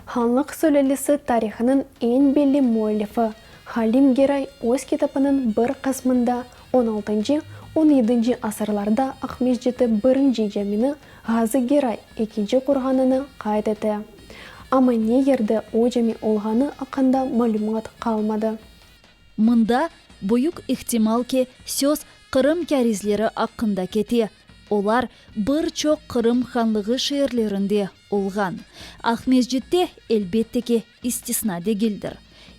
Hanlıq sülelesi tarihınıñ eñ belli müellifi Halim Geray öz kitabınıñ bir qısmında on altıncı, on yedinci asırlarda Aqmesciti birinci camini, Ğazı Geray ekinci qurğanını qayd ete. Amma ne yerde o cami olğanı aqqında malümat qalmadı. Mında, büyük ihtimal ki, söz Qırım kârizleri aqqında kete, olar bir çoq Qırım hanlığı şeerlerinde olğan. Aqmescit de, elbette ki, istisna degildir.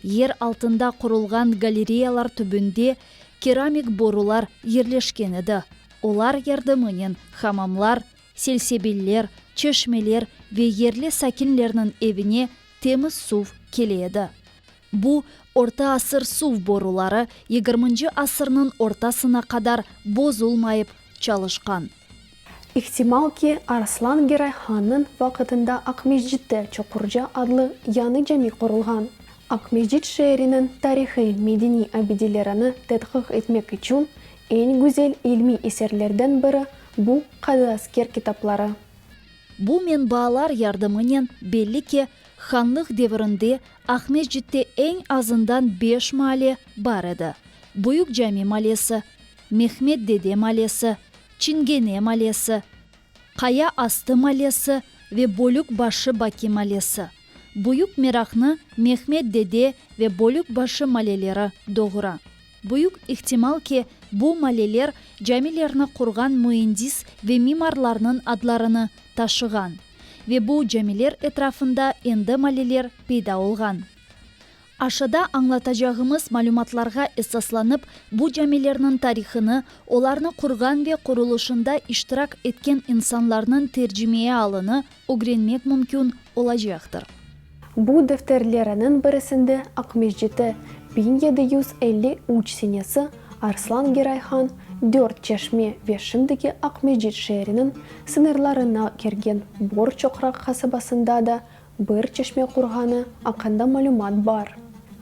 Yer altında qurulğan galereyalar tübünde keramik borular yerleşken edi, olar yardımınen hamamlar, Selsebiller, çeşmeler ve yerli sakinlerniñ evine temiz suv kele edi. Bu, orta asır suv boruları yigirminci asırnıñ ortasına qadar bozulmayıp çalışqan. İhtimal ki, Arslan Geray hannıñ vaqıtında Aqmescitte Çoqurca adlı yañı cami qurulğan. Aqmescit şeeriniñ tarihiy, medeniy abidelerini tedqiq etmek içün eñ güzel ilmiy eserlerden biri Bu, qadı asker kitapları. Bu menbaalar yardımınen belli ki, hanlıq devirinde Aqmescitte eñ azından beş maale bar edi, Büyük Cami malesi, Mehmet dede malesi, Çingene malesi, Qaya astı malesi ve Bölükbaşı Baki malesi. Büyük meraqnı Mehmet dede ve Bölükbaşı maleleri doğura. Büyük ihtimal ki, bu maleler camilerni qurğan müendis ve mimarlarnıñ adlarını taşığan ve bu camiler etrafında endi maleler peyda olğan. Aşada añlatacağımız malümatlarğa esaslanıp, bu camilerniñ tarihını, olarnı qurğan ve qurulışında iştirak etken insanlarnıñ tercimeye alını Ögrenmek mümkün olacaqtır. Bu defterleriniñ birisinde Aqmescitte biñ yedi yüz elli üç senesi Arslan Geray Han Dört Çeşme ve şimdiki Aqmescit şeeriniñ sıñırlarına kirgen Bor Çoqraq qasabasında da bir çeşme qurğanı aqqında malümat bar.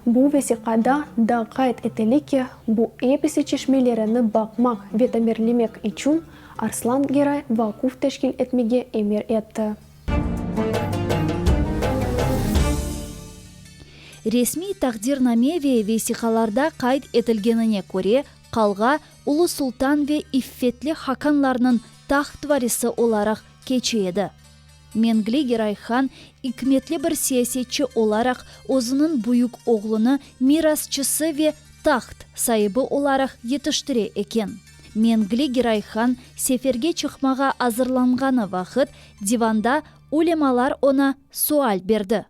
Bu vesiqada da qayd etile ki, bu episi çeşmelerini baqmaq ve tamirlemek içün Arslan Geray vaquf teşkil etmege emir etti. Resmiy taqdirname ve vesiqalarda qayd etilgenine köre, qalğa Ulu Sultan ve İffetli Hakanlarnıñ taht varisi olaraq keçi edi. Mengligi Rayhan, ikmetli bir siyasetçi olaraq, özüniñ büyük oğlunı mirasçısı ve taht saibi olaraq yetiştire eken. Mengligi Rayhan seferge çıqmağa azırlanğanı vaqıt, divanda ulemalar oña sual berdi.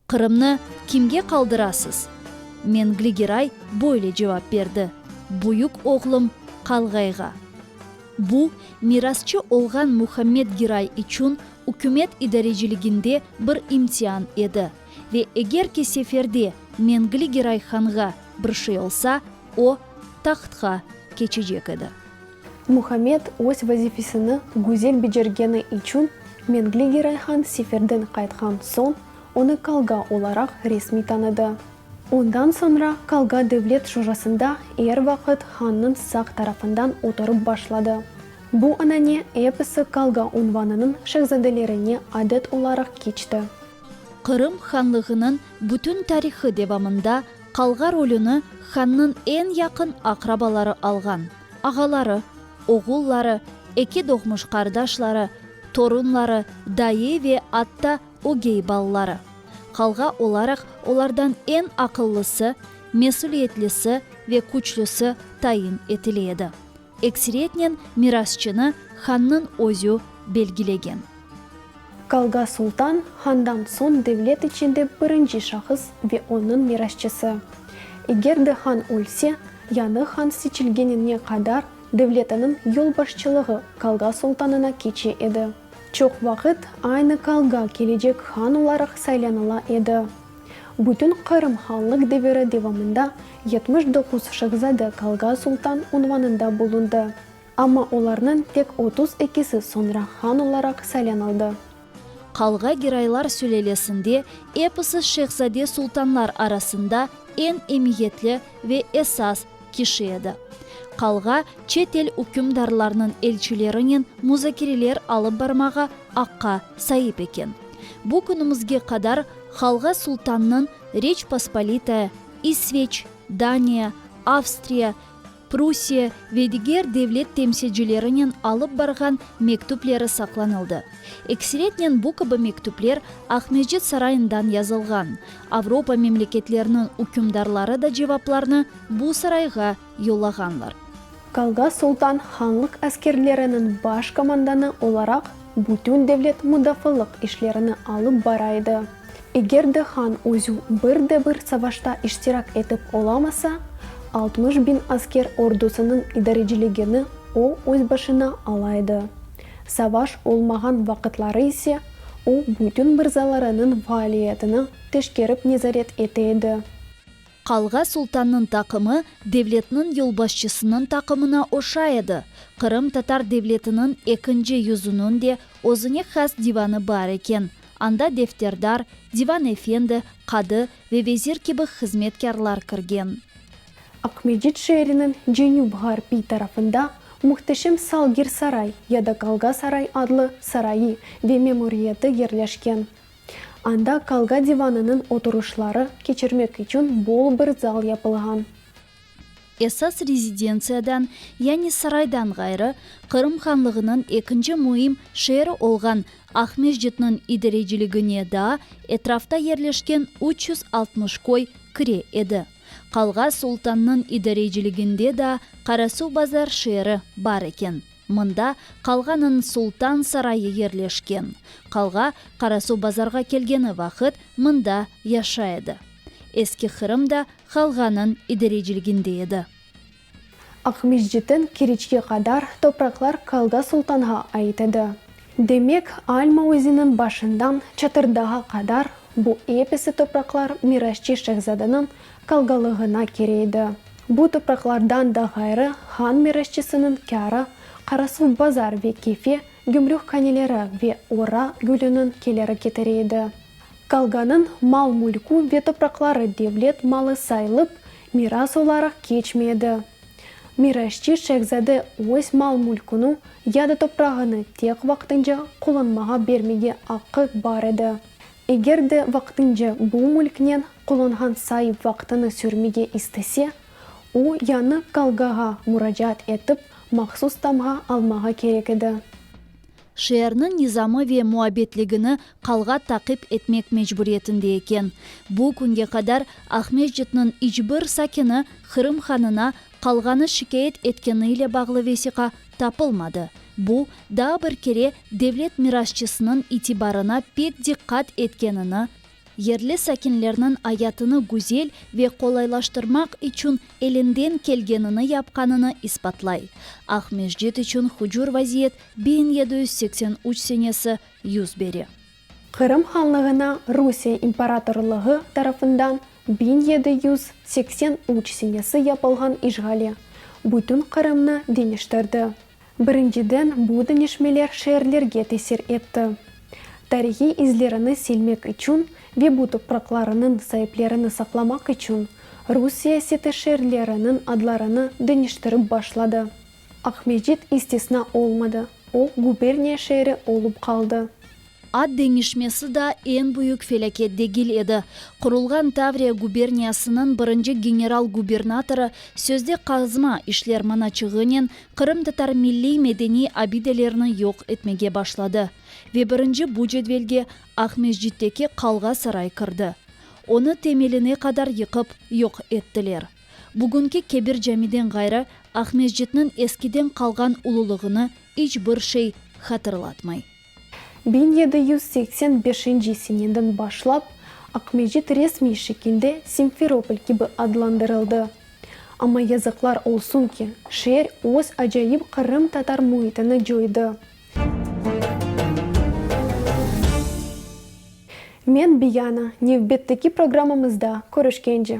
Qırımnı kimge qaldırasız? Mengli Giray böyle cevap berdi, Büyük oğlum Qalğayğa. Bu, mirasçı olğan Muhammed Giray içün ükümet idareciliginde bir imtian edi, ve eger ki seferde Mengli Giray hanğa bir şey olsa, o, tahtqa keçecek edi. Muhammed öz vazifesini güzel becergeni içün Mengligi Rayhan seferden qaytqan soñ onı Kalga olaraq resmiy tanıdı. Ondan soñra Kalga devlet şurasında er vaqıt hannıñ sağ tarafından oturıp başladı. Bu anane episi Kalga unvanınıñ şehzadelerine adet olaraq keçti. Qırım hanlığınıñ bütün tarihı devamında Kalga rolüni hannıñ eñ yaqın aqrabaları alğan. ağaları, oğulları, eki doğmuş qardaşları, torunları, dayı ve atta ögey balaları. Qalğa olaraq olardan eñ aqıllısı, mesüliyetlisi ve küçlüsi tayin etile edi. Ekseriyetnen mirasçını hannıñ özü belgilegen. Kalga Sultan, handan soñ devlet içinde birinci şahıs ve onıñ mirasçısı. Eger de han ölse, yañı han seçilgenine qadar devletiniñ yolbaşçılığı Kalga Sultanına keçe edi. Çoq vaqıt aynı kalga kelecek han olaraq saylanıla edi. Bütün Qırım hanlıq deviri devamında yetmiş doquz şehzade Kalga Sultan unvanında bulundı. Amma olarnıñ tek otuz ekisi soñra han olaraq saylanıldı. Qalğa giraylar sülelesinde episi şehzade-sultanlar arasında eñ emiyetli ve esas kişi edi. Qalğa çet el ükümdarlarnıñ elçilerinen muzakereler alıp barmağa aqqa saip eken. Bu künümizge qadar Qalğa sultannıñ Reç Pospolitaya, İsveç, Daniya, Avstriya, Prussiya ve diger devlet temsilcilerinen alıp barğan mektüpleri saqlanıldı. Eksiretnen bu kibi mektüpler Aqmescit sarayından yazılğan. Avropa memleketleriniñ ükümdarları da cevaplarnı bu sarayğa yollağanlar. Kalga Sultan hanlıq askerleriniñ baş komandanı olaraq Bütün devlet mudafalıq işlerini alıp bara edi. Eger de han özü bir de bir savaşta iştirak etip olamasa, altmış biñ asker ordusınıñ idareciligini o öz başına ala edi. Savaş olmağan vaqıtları ise o bütün mırzalarınıñ faaliyetini teşkerip nezaret ete edi. Qalğa sultannıñ taqımı devletniñ yolbaşçısınıñ taqımına oşa edi. Qırım tatar devletiniñ ekinci yüzüniñ de özüne has divanı bar eken, anda defterdar, divan efendi, qadı ve vezir kibi hızmetkârlar kirgen. Aqmescit şeeriniñ cenüp-ğarpiy tarafında muhteşem Salgir-saray ya da Qalğa-saray adlı sarayı ve memuriyeti yerleşken. Anda Qalga divanınıñ oturışları keçirmek içün bol bir zal yapılğan. Esas rezidentsiyadan, yani saraydan ğayrı, Qırım Hanlığınıñ ekinci müim şeeri olğan Aqmescitniñ idareciligine daa etrafta yerleşken üç yüz altmış köy kire edi. Qalga Sultannıñ idareciliginde daa Qarasuvbazar şeeri bar eken. Mında qalğanıñ Sultan sarayı yerleşken. Qalğa Qarasuv bazarğa kelgeni vaqıt mında yaşay edi. Eski Qırım da qalğanıñ idarecilginde edi. Aqmescitten Keriçke qadar topraqlar Qalğa Sultanğa ait edi. Demek, Alma özeniñ başından Çatırdağa qadar bu episi topraqlar mirasçı şehzadanıñ qalğalığına kereydi. Bu topraqlardan da ğayrı han mirasçısınıñ kârı, Qarasuv bazar ve Kefe gümrük qaneleri ve Ora gülüniñ keleri ketireydi. Qalğanıñ mal-mülkü ve topraqları devlet malı sayılıp, miras olaraq keçmey edi. Mirasçı şehzade öz mal-mülküni ya da toprağını tek vaqtınca qullanmağa bermege aqqı bar edi, eger de vaqtınca bu mülknen Qullanğan saip vaqtını sürmege istese, o, yañı qalğağa muracaat etip, mahsus tamğa almağa kerek edi. Şeerniñ nizamı ve muabbetligini qalğa taqip etmek mecburiyetinde eken. Bu künge qadar Aqmescitniñ iç bir sakini Qırım hanına qalğanı şikâyet etkeni ile bağlı vesiqa tapılmadı. Bu, daa bir kere devlet mirasçısınıñ itibarına pek diqqat etkenini Yerli sakinlerniñ ayatını güzel ve qolaylaştırmaq içün elinden kelgenini yapqanını isbatlay. Aqmescit içün hucur vaziyet biñ yedi yüz seksen üç senesi yüz bere. Qırım Hanlığına Rusiye imparatorlığı tarafından biñ yedi yüz seksen üç senesi yapılğan işğali, bütün Qırımnı deñiştirdi. Birinciden, bu deñişmeler şeerlerge tesir etti. Tarihiy izlerini silmek içün ve bu topraqlarınıñ saiplerini saqlamaq içün rus siyaseti şeerleriniñ adlarını deñiştirip başladı. Aqmescit istisna olmadı, o, guberniya şeeri olıp qaldı. Ad deñişmesi daa eñ büyük felâket degil edi. Qurulğan Tavriya guberniyasınıñ birinci general-gubernatorı sözde qazma işler manaçığınen qırımtatar milliy medeniy abidelerini yoq etmege başladı ve birinci bu cedvelge Aqmescitteki qalğa-saray kirdi. Onı temeline qadar yıqıp yoq ettiler. Bugünki kebir camiden ğayrı Aqmescitniñ eskiden qalğan ululığını iç bir şey hatırlatmay. Biñ yedi yüz seksen beşinci seneden başlap Aqmescit resmiy şekilde Simferopol kibi adlandırıldı. Amma yazıqlar olsun ki, şeer öz acayip qırımtatar müitini coydı. Men Biyana, nevbetteki programmamızda körüşkence.